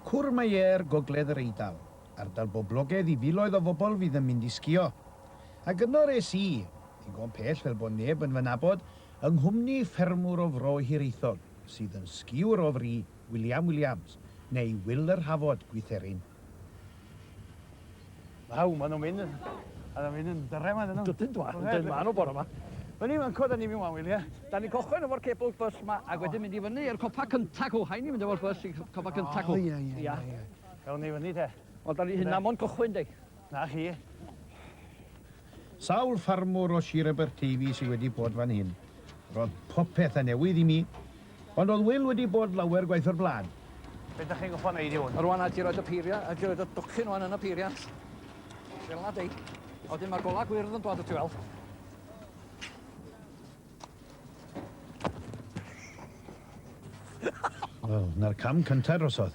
Courmayeur, Gogledd yr Eidal, ardal boblogaidd i filoedd o fobl fydd yn mynd i sgïo. Ac yno res i, ddigon pell fel bod neb yn fy nabod, yng nghwmni ffermwr o Fro Hiraethog sydd yn sgïwr o fri, William Williams, neu Wil yr Hafod, Gwytherin. Waw, maen nhw'n mynd yn... Maen nhw'n mynd yn dyrre maen nhw. Dydyn dwa, dydyn maen nhw bore yma. Wel ni, mae'n coda ni fi'n wael, ie? Da ni cochon efo'r cable bus ma, ac wedyn mynd i fyny i'r copa cynta cw, hain i mynd efo'r bus i copa cynta cw. O, ie, ie, ie. Ewn ni fyny te. Wel, da ni hynna mond cychwyn, dei. Na chi. Sawl ffarmwr o Sir Aberteifi sydd wedi bod fan hyn? Roedd popeth yn newydd i mi, ond oedd Wil wedi bod lawer gwaith o'r blaen. Be da chi'n gorfod neud i hwn? Rwan a ti roed y peiriant, a ti roed y docyn rwan yn y peiriant. Fel na dei. A wedyn mae'r gola gwyrdd yn dod o ti weld. Wel, na'r cam cyntaf drosodd.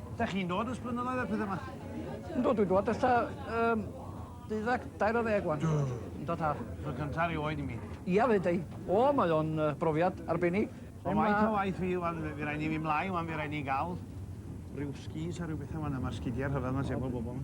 Da chi'n dod ys blynyddoedd a pethau yma? Yndw, dwi'n dod ys ta um, deuddag dair o ddeg wan. Ynddo ta. Fy cyntaf rhyw oed i mi. Ia, fe dau. O, mae o'n uh, brofiad arbennig. Mae'n waith o waith fi, wan, fi rhaid ni fi mlaen, wan, fi rhaid ni gael rhyw skis a rhyw bethau wan, a mae'r sgidiau rhyfedd mae'n sefyl bobl.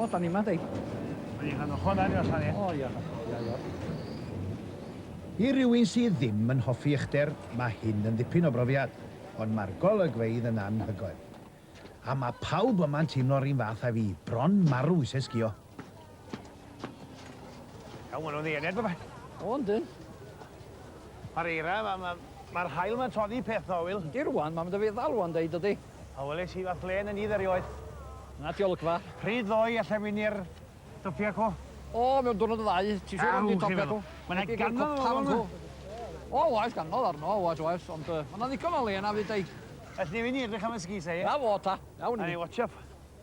O, da ni yma, di. Mae rhan o hwnna ni allan, ie? O, ia. I rywun sydd ddim yn hoffi uchder, mae hyn yn ddipyn o brofiad, ond mae'r golygfeydd yn anhygoel. A mae pawb yma'n teimlo'r un fath â fi, bron marw eisiau sgïo. Iawn, maen nhw'n ddiened, baba. O, yndyn. Mae'r eira, mae'r ma, ma, ma hael mae'n toddi peth na, Wil. Ydy rwan, mae'n mynd y feddal rwan, dweud dydy. A weles i fath len yn idd erioed. Na diolgfa. Pryd ddoi allai mynd i'r dopia co? O, mewn dwrnod y ddau, ti siwr am di topia co? Mae'n ei ganol o fan nhw. O, oes, ganol arno, oes, oes, ond uh, mae'n ddigon o le yna fyd ei. Felly fi'n edrych am y sgis ei. Na fo ta, iawn i. A'n ei watch up.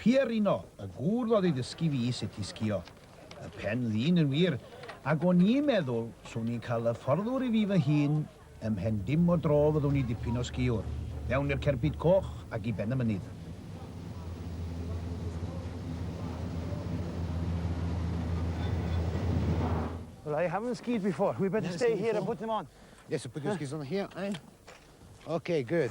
Pierino, y gŵr ddodd i ddysgu fi sut i sgïo. Y pen ddyn yn wir, ac o'n i'n meddwl swn i'n cael hyfforddwr i fi fy hun ym mhen dim o dro fyddwn i dipyn o sgïwr, fewn i'r cerbyd coch ac i ben y mynydd. Well I haven't skied before, we better stay here and put them on. Yes, put your skis on here. Ok, good.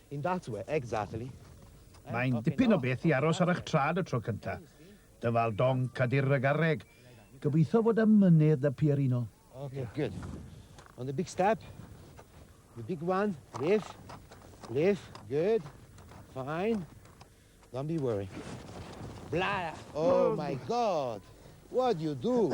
In that way, exactly. Mae'n dipyn o beth i aros ar eich trad y tro cynta. Dyfal donc a dirr y garreg. Gobeithio fod y mynydd da Pierino. Ok, good. On the big step. The big one. Lift. Lift. Good. Fine. Don't be worry. Blah! Oh my god! What do you do?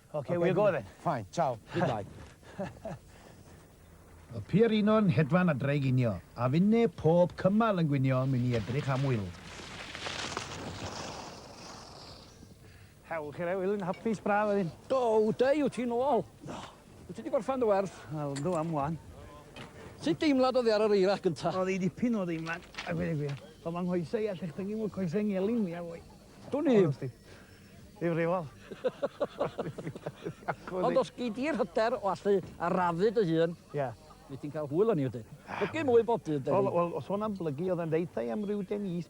Ok, we'll go then. Fine, ciao, goodbye. Y pierino'n hedfan a draeginio, a finne pob cymal yn gwinio myn i edrych am Wil. Hewl chi re, Wil, yn hapus braf wedyn. Do, da yw ti'n ôl. Do. Wyt ti wedi gorffan dy werth? Wel, ynddo am wan. Sut deimlad oedd e ar yr eira gyntaf? Oedd ei dipyn o ddeimlad, a gwir y gwir. Ond mae nghoesau a llechdyngu mwy coesau ngelyn mwyaf fwy. Dwn i ddim. Difrifol. Ond os gei di'r hyder o allu arafu dy hun, Ie. wyt ti'n cael hwyl arni wedyn. Plygu mwy bob dydd, Denis. Wel, wel, sôn am blygu, oedd e'n deuthau am ryw Denis.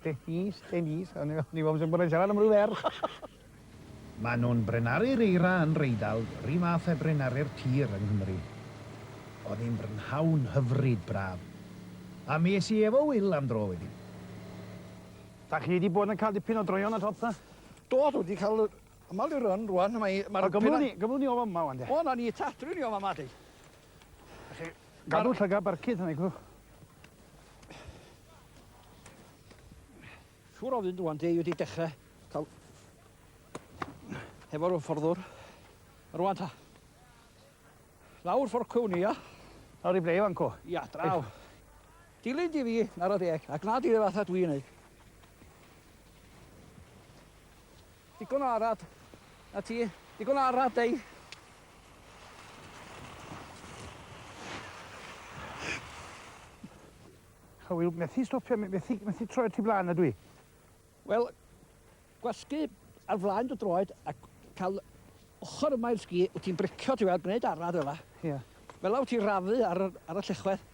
Denis, Denis, o'n i o'n i fel bod e'n siarad am ryw ferch. Maen nhw'n brenaru'r eira yn r'Eidal r'un fath â brenaru'r tir yng Nghymru. Oedd hi'n brynhawn hyfryd braf, a mi es i efo Wil am dro wedyn. Dach chi 'di bod yn cael dipyn o droeon ar top ta? Do, dwi 'di cael y ymal i'r run rŵan, mae ma'r... O gymrwn ni, gymrwn ni o fama ŵan de. O 'na ni ta, dwi ni o fama de. Felly, gadw llygad barcud arna i gwrw. Siŵr o fynd ŵan de, i wedi dechre cael hefo'r ymfforddwr. Rŵan ta. Lawr fforcwn i, ia? Lawr i ble i fan co? Ia, draw. Dilyn di fi, nara deg, a gwna di fe fatha dwi'n neud. Digon o arad. Na ti, digon o arad, dei. A wi methu stopio, methu, methu troed ti blaen ydw i. Wel, gwasgu ar flaen dy droed a cael ochr yma i'r sgi, wyt ti'n bricio ti fel, gwneud arad fel la. Ie. Fel la wyt ti'n rafu ar, ar y llechwedd.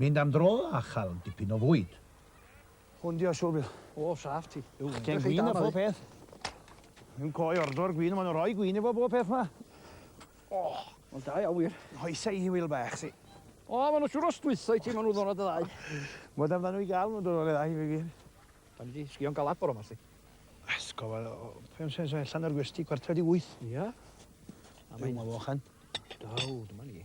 Mynd am dro a chael dipyn o fwyd. Hwn di o siwr Bill. O, saff ti. Chdi am gwin a phob peth. Yn coi ordor gwin, maen nhw'n rhoi gwin efo bob peth ma. O, mae'n da iawn wir. Hoesa i Wil bach si. O, maen nhw'n siwr o stwytho i ti, maen nhw'n ddonad y ddau. Mae dan nhw i gael nhw'n dod o'r ddau i fi gyn. Da ni di sgio'n galad bore ma si. Esgob, fe o'n sens allan o'r gwesti, cwarter di wyth. Ia? A mae'n... Dwi'n fawchan. Daw, dyma ni.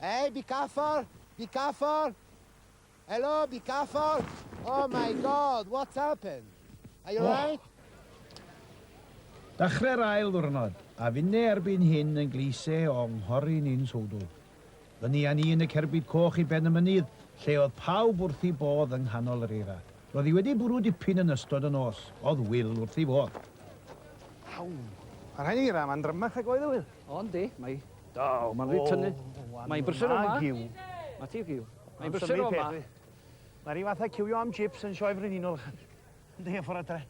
Hey, be careful! Be careful! Hello, be careful! Oh my God, what's happened? Are you alright? Dachreu'r ail ddwrnod, a finne erbyn hyn yn gleise o nghorri ni'n sowdl. Fyny a ni yn y cerbyd coch i ben y mynydd, lle oedd pawb wrth ei bodd yng nghanol yr eira. Roedd hi wedi bwrw dipyn yn ystod y nos, oedd Wil wrth ei fodd. Waw! Mae'r eira yma'n drymach nag oedd e, Wil. O yndi, mae O, mae'n rhy tynnu. Mae'n brysur o ma. Mae ti giw. Mae'n brysur o ma. Mae rhi fath a ciwio am chips yn sioe frenhinol. Ynddi, a ffordd adre.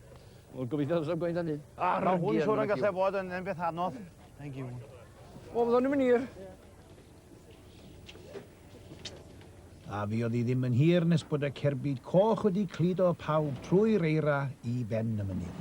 Wel, gobeithio ddysg gwein dan ni. Mae hwn siwr yn gallu fod yn beth anodd. Mae'n giw. O, fyddwn ni'n mynd i'r. A fi oedd hi ddim yn hir nes bod y cerbyd coch wedi cludo pawb trwy'r eira i ben y mynydd.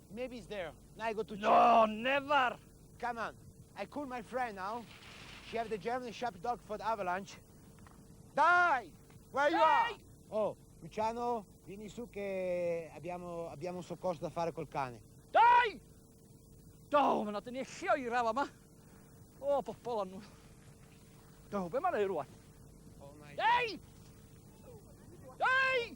Maybe he's there. Now I go to... No, never! Come on. I call my friend now. She have the German Shepherd dog for the avalanche. Dai! Where you are? Oh, Luciano, vieni su che abbiamo, abbiamo un soccorso da fare col cane. Dai! Do, mae'n adyn ni echio i rafa yma. O, oh, bobl anw. Do, be mae'n ei rwan? Oh my Dai! Dai!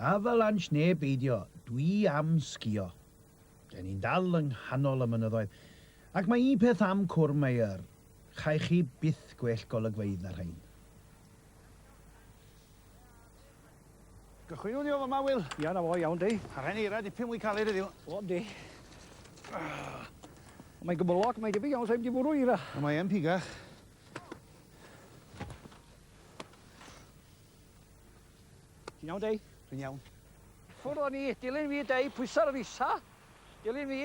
Avalanche neu beidio, dwi am sgïo. Dyn ni'n dal yng nghanol y mynyddoedd. Ac mae un peth am Cwrw Meyer, chaech chi byth gwell golygfeydd na rhain. Gychwynwn ni o fyma, Wil. Ia, na fo, iawn di. A rhain eira dipyn mwy caled heddiw. O, di. Mae'n gymylog, mae'n debyg iawn, sa'n mynd i fwrw eira. Mae yn pigach. Ti'n iawn, Dei? Dwi'n iawn. Ffwrdd o'n i, dilyn fi, Dei, pwysa'r yr isa. Dilyn fi.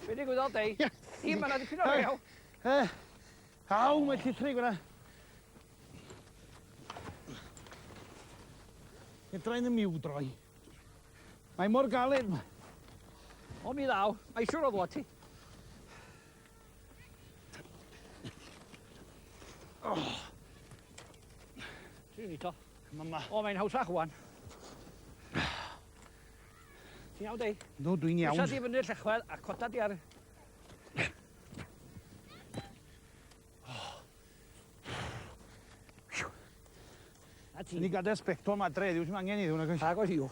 Be' digwyddodd, Dei? Ie. Ie, ma' 'na dipyn o rew. Yy. Aw, mae llithrig yna. Edra yn y miw droi. Mae mor galed ma. O mi ddaw, mae siwr o ddod ti. Oh. Ti'n ni to? Mama. O, mae'n hawsach wan. Ti'n iawn, dei? No, dwi'n iawn. Pwysa di fyny'r llechwedd a cota di ar A ti? Ni gadael sbectol ma dre, ddim angen i ddwn agos. Agos i'w.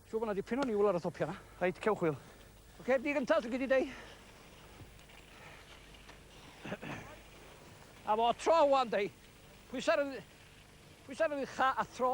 Siw bod na dipyn o niwl ar y topia na. Reit, cewch wil. Oce, okay, di gyntaf, dwi'n gyda dei. A fo tro wan dei. Pwysar yn... Pwysar yn ucha a tro.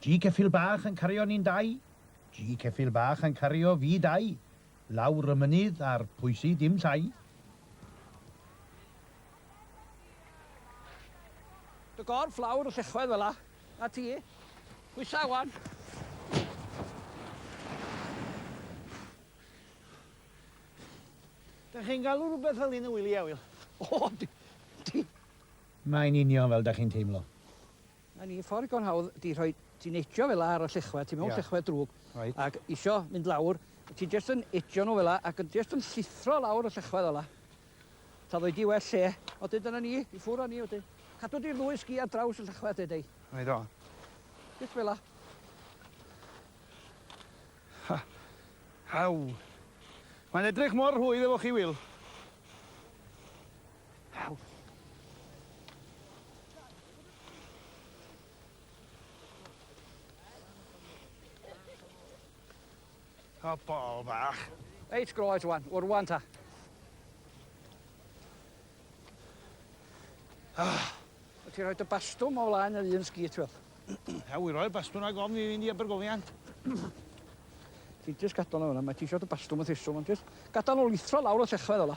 Ji ceffyl bach yn cario ni'n dau, ji ceffyl bach yn cario fi dau, lawr y mynydd a'r pwysi dim llai. Dy gorff lawr y llechwedd fela. Na ti. Pwysa wan. Dych chi'n galw rhywbeth fel hyn yn wili, Ewyl? O, di, di. Mae'n union fel dych chi'n teimlo. Mae ni ffordd digon hawdd di rhoi ti'n ejio fela ar y llechwedd ti mewn yeah. llechwedd drwg right. ac isio mynd lawr ti jyst yn ejio nhw fela ac yn jyst yn llithro lawr y llechwedd fela ta ddoi di well lle o dyn dyna ni i ffwr o ni o dyn cadw di'r ddwy sgi ar draws y llechwedd dwi dweud. Right o. Jyst fela. Ha. Haw. Mae'n edrych mor rhwydd efo chi, Wil. O, bol bach. Reit, groes wan. O'r wan ta. Ah. Ti'n rhoi dy bastwm o flaen yr un sgit, wel. Ia, wy roi'r bastwn ag ofn i fynd i Abergofiant. Ti'n jyst gadal o fyna, mae ti eisiau dy bastwm yn theswm, ond jyst gadal o lithro lawr o sechfedd ola.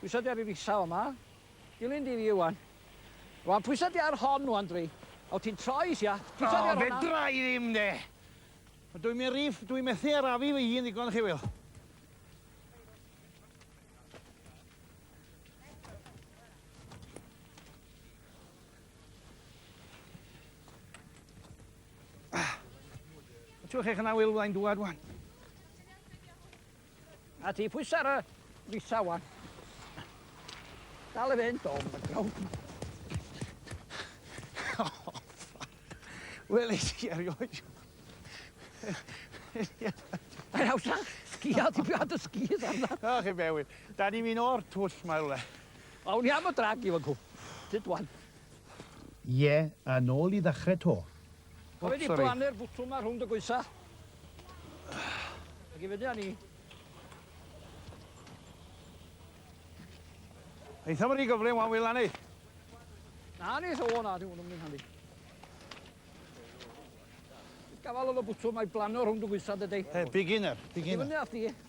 Pwysa di ar yr isa fama. Dilyn di fi ŵan. Rŵan pwysa di ar hon ŵan dwi. O ti'n troi isia. Pwysa di ar honna. O fedra i ddim de. Dwi myn ry dwi methu arafu fy hun ddigon chi wil. Ti'n weld chech yna Wil fyddai'n dŵad ŵan. A ti pwys ar y risa wan. Dal i fynd o, mae'n grawn. Wel, eich ti erioed. Mae'n hawsa, sgia, ti byd y sgis arna. O, chi bewyd. Da ni'n mynd o'r twll mae rhywle. Awn i am y drag i fan cw. Tyd wan. Ie, a nôl i ddechrau to. O, sori. Mae wedi blannu'r bwtwm ma rhwng dy goesa. Ac i fyny â ni. Eitha mae'n rhy gyflym wan wyla ni. Na ni, o na, di hwn yn mynd handi. Gafal oedd y bwtwm, mae blannu rhwng dy goesa dydy. Hey, beginner, beginner. Ac i fyny â ti.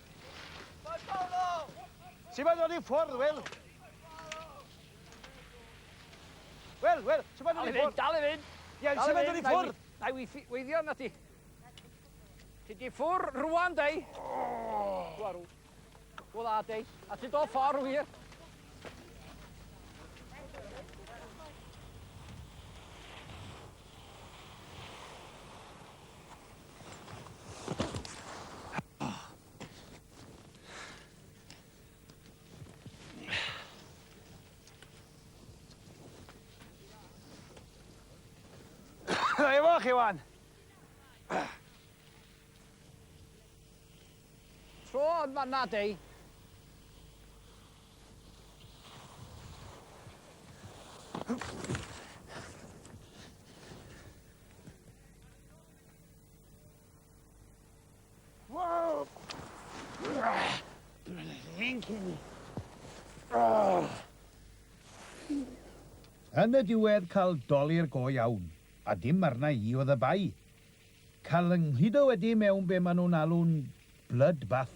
Ti'n mynd o'n i ffordd, Wil? Wel, wel, ti'n mynd o'n i ffordd? Dal i fynd, Ie, ti'n mynd o'n i ffordd? Na i weithio na ti. Ti di ffwr rwan, dei. Gwarw. Wel, a, dei. A ti do ffordd wir. Efo chi wan! Tro yn fanna, dei. Wow! Thank you. Oh. Yn y diwedd cael dolir go iawn, a dim arna i oedd y bai. Cael yng nghudo wedi mewn be maen nhw'n alw'n blood bath.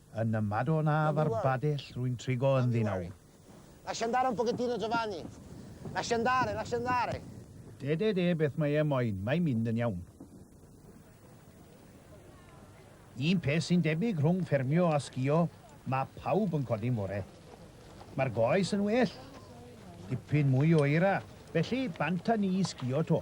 Yn y Madon af a'r Badell rwy'n trigo ynddi nawr. Lascia andare un pochettino Giovanni. Lascia andare, lascia andare. De, de, de, beth mae e moyn, mae'n mynd yn iawn. Un peth sy'n debyg rhwng ffermio a sgïo, mae pawb yn codi'n fore. Mae'r goes yn well. Dipyn mwy o eira, felly bant â ni i sgïo 'to.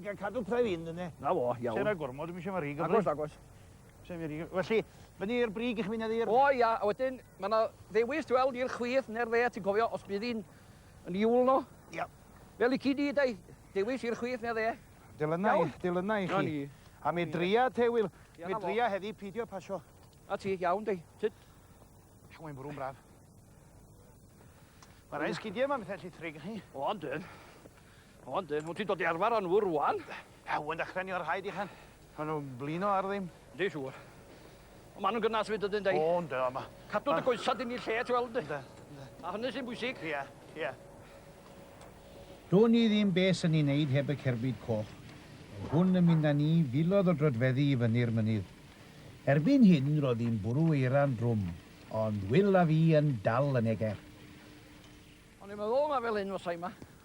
Gael cadw pref un, dyna. Na fo, iawn. Sera gormod, dwi'n eisiau mae rhi gyfri. Agos, agos. Felly, fyny i'r brig i'ch mynedd i'r... O ia, a wedyn, mae yna ddewis ti weld i'r chwith neu'r dde, ti'n cofio os bydd hi'n yn iwl no? Ia. Fel i cyd i, dau, dewis i'r chwith neu'r dde. Dylynau, dylynau i chi. A mi dria te, Wil. Mi dria heddi pidio pasio. A ti, iawn, dau. Tyd. Ac mae'n bwrw'n braf. Mae rhaid sgidiau yma, bethau llithrig chi. O, ond dyn. O yndi, wyt ti'n dod i arfer â nhw rŵan. Ew, yn dechrau ni o'r rhaid i Chen. Maen nhw'n blino ar ddim. Yndi, siŵr. Ond maen nhw'n gynnas fyd ydyn, dei? O, ynddo, yma. Cadw dy goesa dyn ni lle, ti weld, ynddi? Ynddo, ynddo. A hynny sy'n bwysig. Ie, ie. Do'n i ddim be sy'n i wneud heb y cerbyd coch. Roedd hwn yn mynd â ni filoedd o droedfeddi i fyny'r mynydd. Erbyn hyn roedd hi'n bwrw eira'n drwm, ond Wil a fi yn dal yn eger. O'n i'n meddwl mai fel hyn fysai yma.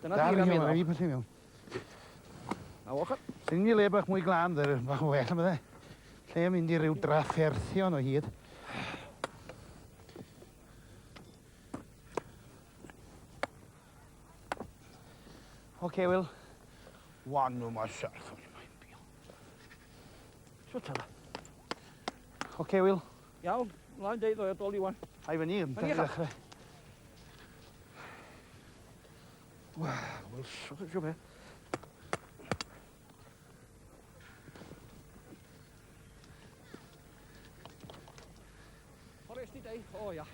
Dyna Dar iawn, rhaid i pwysau mewn. A ochr? Sy'n ni le bach mwy glan, dde'r bach o well am ydde. Lle yn mynd i ryw drafferthion o hyd. Oce, okay, Will. Wan nhw mae serth o'n i'n bio. Swt yna. Oce, Wil? Iawn, mlaen deud o'i adol Iwan. Ai fyny, yn dyn ddechrau. Wel, siwch eisiau fe. Forest i deu, o ia.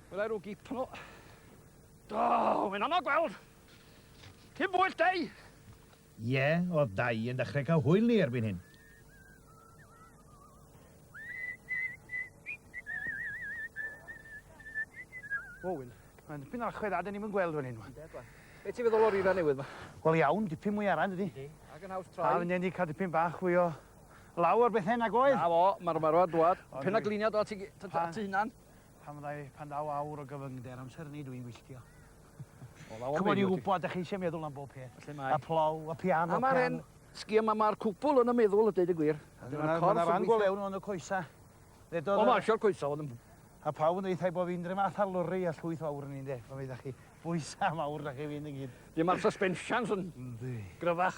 Wel, erw gip nhw. Do, mae'n anodd gweld. Cyn bwyll deu! Ie, oedd Dai yn dechrau cael hwyl ni erbyn hyn. O, Wil, mae'n dipyn o achwedd a dyn ni'n mynd gweld fan hyn, wan. Be ti'n feddwl o'r eira newydd ma? Wel iawn, dipyn mwy arall ydy. Ydy, ac yn haws troi. Dal yn enni cael dipyn bach fwy o law ar bethau nag oedd. Na fo, mae'r ymarfer ar dwad. Pen a gliniad o ti, ti hunan. Pan ddau, pan daw awr o gyfyngder amser ni dwi'n gwylltio. Ch'mod i wbod 'dach chi isie meddwl am bob peth. Felly mae. Y plough, y piano. A ma'r 'en sgïo 'ma ma'r cwbwl yn y meddwl a deud y gwir. A dyna'r corff yn gweithio. Ma' 'na ran go lew yn y coesa. Ddedodd y... O ma' isio'r coesa o'dd yn... A pawb yn deuthau bo' fi'n dri math a lwri a llwyth fawr yn un de. Pan fydda chi bwysa mawr 'da chi fynd i gyd. Ie ma'r suspensions yn... Yndi. Gryfach.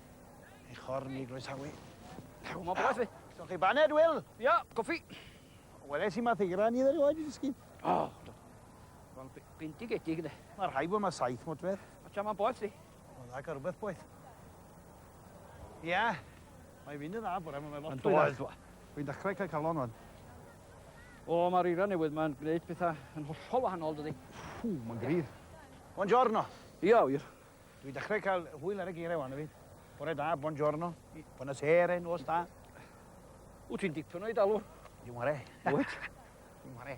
Ei chorn i groesawu. Cawn mo beth fi. So chi baned, Wil? Ia, coffi. Wel, es i math eira ni ddod i oed i ddysgu. O, do. Wel, bintig etig, ynddo. Mae rhai bod mae saith mot fedd. O, ti'n ma'n boeth fi. Mae'n dda gael rhywbeth boeth. Ia, mae fynd yn dda bore, mae'n lot fwy dda. Fi'n dechrau cael calon o'n. O, mae'r eira newydd mae'n gwneud pethau yn hollol wahanol, dydy. Ffw, mae'n gryf. Buongiorno. Ia, wir. Dwi dechrau cael hwyl ar y geiriau wan, fi. Bore da, bon giorno, bona sere, nos da. Wyt ti'n dipyn o'i dalwr? Dwi'n ware. Wyt? Dwi'n ware.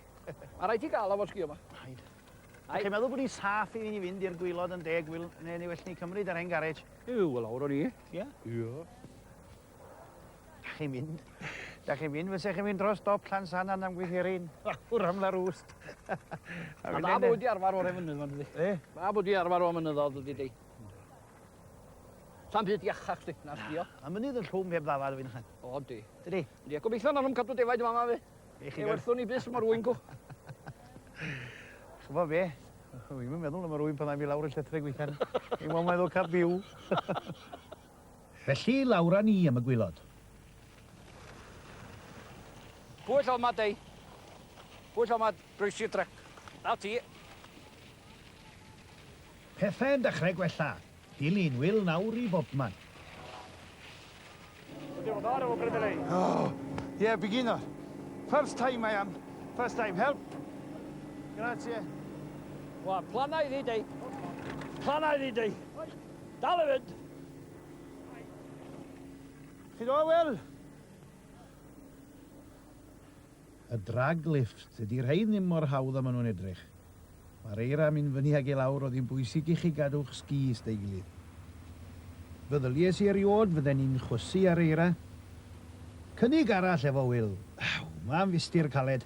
A rhaid ti gael o fod sgio yma? Rhaid. Ac chi'n meddwl bod hi'n saff i ni fynd i'r gwylod yn deg wyl, neu ni well ni cymryd ar hen garej? Yw, wel awr o'n i. Ie? Ie. Dach chi'n mynd. Dach chi'n mynd, fysa chi'n mynd dros stop Llansannan am gwythierin. Wr am la rwst. A da bod wedi arfer o'r efynydd fan ydi. E? Da bod wedi arfer o'r mynyddodd ydi di. Sa'n byd iachach di, na sbio. A mynydd yn llwm heb ddafad fi'n chan. O, di. Dydi? Di, a gobeithio na nhw'n cadw defaid yma fi. Eich i werthwn ni bus yma rwy'n gw. Chyfo fe, fi'n meddwl yma rwy'n pan am i lawr y llethrau gweithian. I'n meddwl meddwl cap byw. Felly, lawr â ni am y gwilod. Pwy llaw mad ei? Pwy llaw mad? Croesi'r trac. Na ti. Pethau'n dechrau gwella. Dilyn Wil nawr i bobman. Oh, yeah, beginner. First time I am. First time. Help. Grazie. Wel, planau i fi, dei. Planau i fi, dei. Dal i fynd! Chi do, Wil? Y drag lift. Dydy rhein ddim mor hawdd a maen nhw'n edrych. Mae'r eira yn mynd fyny ag i lawr, oedd hi'n bwysig i chi gadw'ch sgis da'i gilydd. Feddylies i erioed fydden ni'n chwysu ar eira. Cynnig arall efo Wil. Aw, mae'n fistir caled.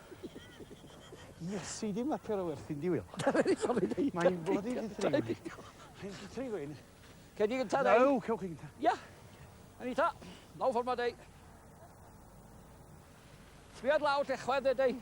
Iesu, dim lapio ar y werthin, di Wil. Mae'n bloody di-threigwyn. Mae'n di-threigwyn. Cei di gynta, dei? No, cewch chi gynta. Ia. Anita, lawr ffordd ma, dei. Sbiad lawr, lle chwedd, dei, dei.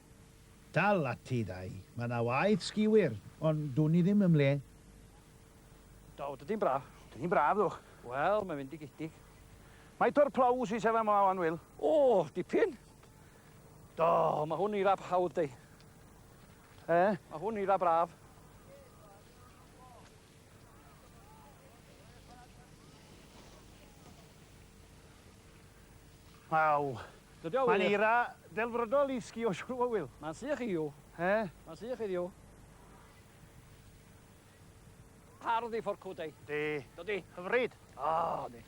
Dal ati dau. Mae yna waith sgi wir, ond dwn i ddim ym mhle. Do, dydi'n braf. Dydi'n braf, ddwch. Wel, mae'n fendigedig. Faint o'r plough sy'n sefyll yma wan, Wil? O, dipyn. Do, mae hwn eira hawdd deu. E? Mae hwn eira braf. Waw. Dydi o wir? Mae'n eira delfrydol i sgïo siŵr o fod Wil. Mae'n sych i yw. He? Mae'n sych i yw. Hardd i fforcw dei. Di. Dydi? Hyfryd. O, di.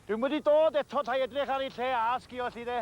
Dwi'n wedi dod eto ta edrych ar ei lle a sgio allu de.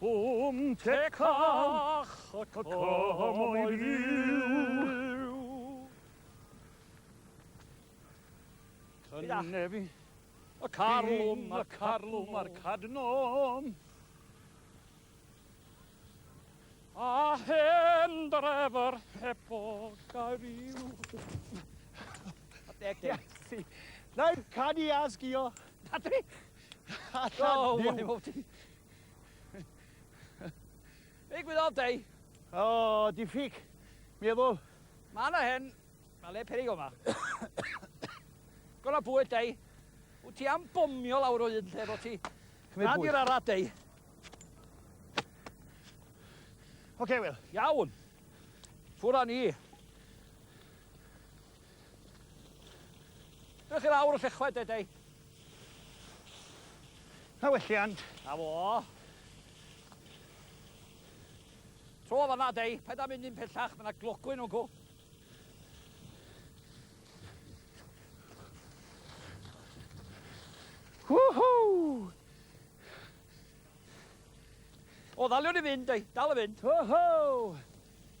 Cwm te cach y cymau fyw. Cynnefi y carlwm, y carlwm a'r cadnom. A hen drefr heb o gair i'w. Deg, deg. Na'i canu asgio. Patrick! Allan! Oh, why won't he? Big with all day. Oh, diffyg. Mi efo. Mae yna hen. Mae le perig o'ma. Gwna bwyd, dei. Wyt ti am bomio lawr o un lle fo ti? Cymryd bwyd. Rhan i'r dei. Oce, okay, Wil. Iawn. Ffwr â ni. Dych chi lawr y llechwed, dei. Na welliant. Na fo. Tro fan na dei, paid â mynd un pellach, mae yna glogwyn o'n go. Woohoo! O, ddaliwn i fynd, ei, dal i fynd. Woohoo!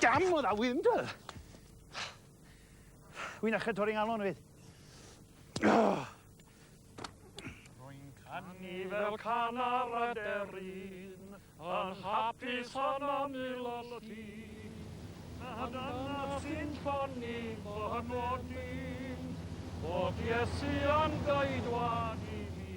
Damn o' dda wind wel! Wi'n achub torri ngalon efyd. Oh. Ni fel can ar y derin, yn hapus yn ymyl y llun. A dyna sy'n ffynnu fy nodyn, bod Iesu yn geidwad i mi.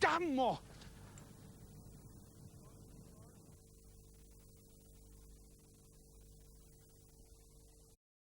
Damo!